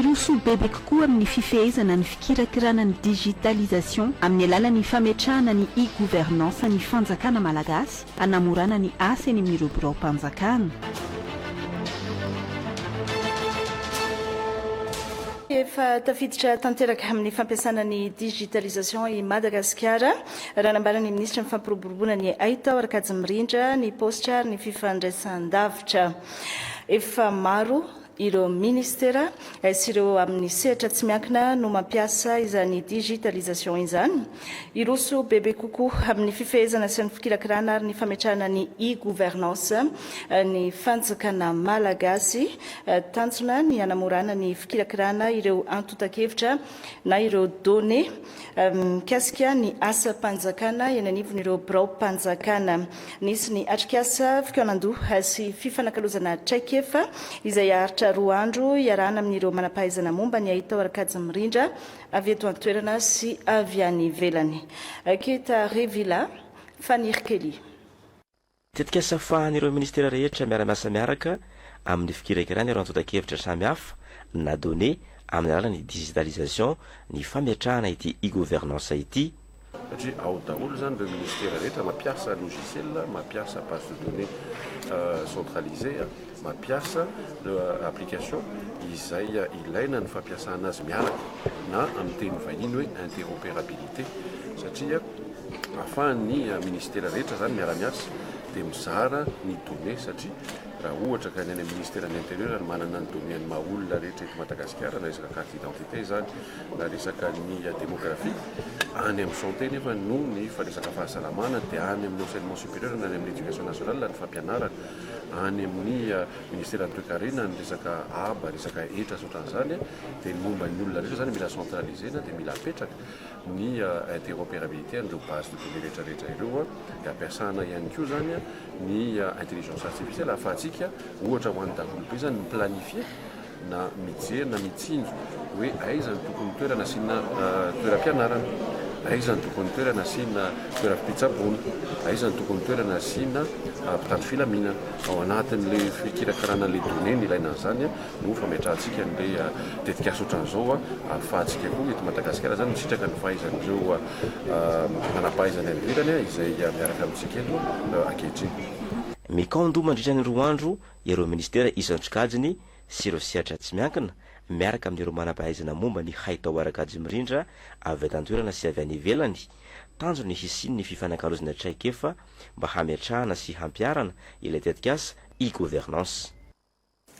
Hiroso bebe kokoa amin'ny fifehezana ny fikirakirana ny digitalisation amin'ny alalan'ny fametrahana ny e-gouvernance ny fanjakana malagasy hanamorana ny asa eny amin'ireo biraom-panjakana. Efa tafiditra tanteraka amin'ny fampiasana ny digitalisation i Madagasikara, raha nambaran'ny minisitry ny Fampiroboroboana ny Haitao, Rakajimirindra, ny paositra ary ny fifandraisan-davitra. Efa maro. Ireo Minisitera sy ireo amin'ny sehatra tsy miankina no mampiasa izany Digitalisation izany. Hiroso bebe kokoa amin'ny fifehezana sy ny fikirakirana ary ny fametrahana ny e-Gouvernance ny Fanjakana Malagasy. Tanjona ny hanamorana ny fikirakirana ireo antontan-kevitra na ireo données. mikasika ny asam-panjakana eny anivon'ireo biraom-panjakana. Nisy ny atrikasa fikaonandoha sy fifanakalozana traikefa izay haharitra roa andro iarahana amin'ireo manampahaizana momba ny hahita ao Arkady mirindra avy eto an-toerana sy avy any ivelany. Keta Revilla, Fanirikelly. Tetikasa fahan'ireo Ministera rehetra miara-miasa miaraka amin'ny fikirakirana ireo antontan-kevitra samy hafa na données amin'ny alalan'ny digitalisation ny fametrahana ity e-governance ity, satria ao daholo izany ireo Ministera rehetra mampiasa logiciel, mampiasa base de données centralisée. mampiasa application izay ilaina ny fampiasana azy miaraka na amin'ny teny vahiny hoe interopérabilité satria ahafahan'ny ministera rehetra izany miara-miasa dia mizara ny données satria raha ohatra ka ny any ministeran'ny intérieur ny manana ny données ny maha olona rehetra eto Madagasikara na resaka carte d'identité izany na resaka ny démographie any amin'ny santé nefa no ny fa resaka fahasalamana dia any amin'ny enseignement supérieur na any amin'ny éducation nationale ny fampianarana any amin'ny ministeran'ny toekarena ny resaka aba, resaka hetra sy ohatran'izany dia ny momba ny olona rehetra izany mila centraliser-na dia mila apetraka ny interopérabilité an'ireo base de données rehetra rehetra ireo dia ampiasana ihany koa izany ny intelligence artificielle ahafahantsika ohatra ho an'ny daholobe izany mi-planifier na mijery na mitsinjo hoe aiza no tokony toerana asiana toeram-pianarana, aiza no tokony toerana asiana toeram-pitsaboana, aiza no tokony toerana asiana mpitandro filaminana. Ao anatin'ilay fikirakarana an'ilay données ny ilaina an'izany no fametrahantsika an'ilay tetikasa ohatran'izao ahafahantsika koa eto Madagasikara izany misitraka ny fahaizan'ireo manam-pahaizana any ivelany izay miaraka amintsika eto ankehitriny. Mekong mandritra ny roa andro ireo minisitera isan-tsokajiny sy ireo sehatra tsy miankina, miaraka amin'ireo manam-pahaizana momba ny haitao ara-kajy mirindra avy eto an-toerana sy avy any ivelany, tanjony ny hisian'ny fifanakalozana traikefa mba hametrahana sy hampiharana ilay tetikasa e-governance.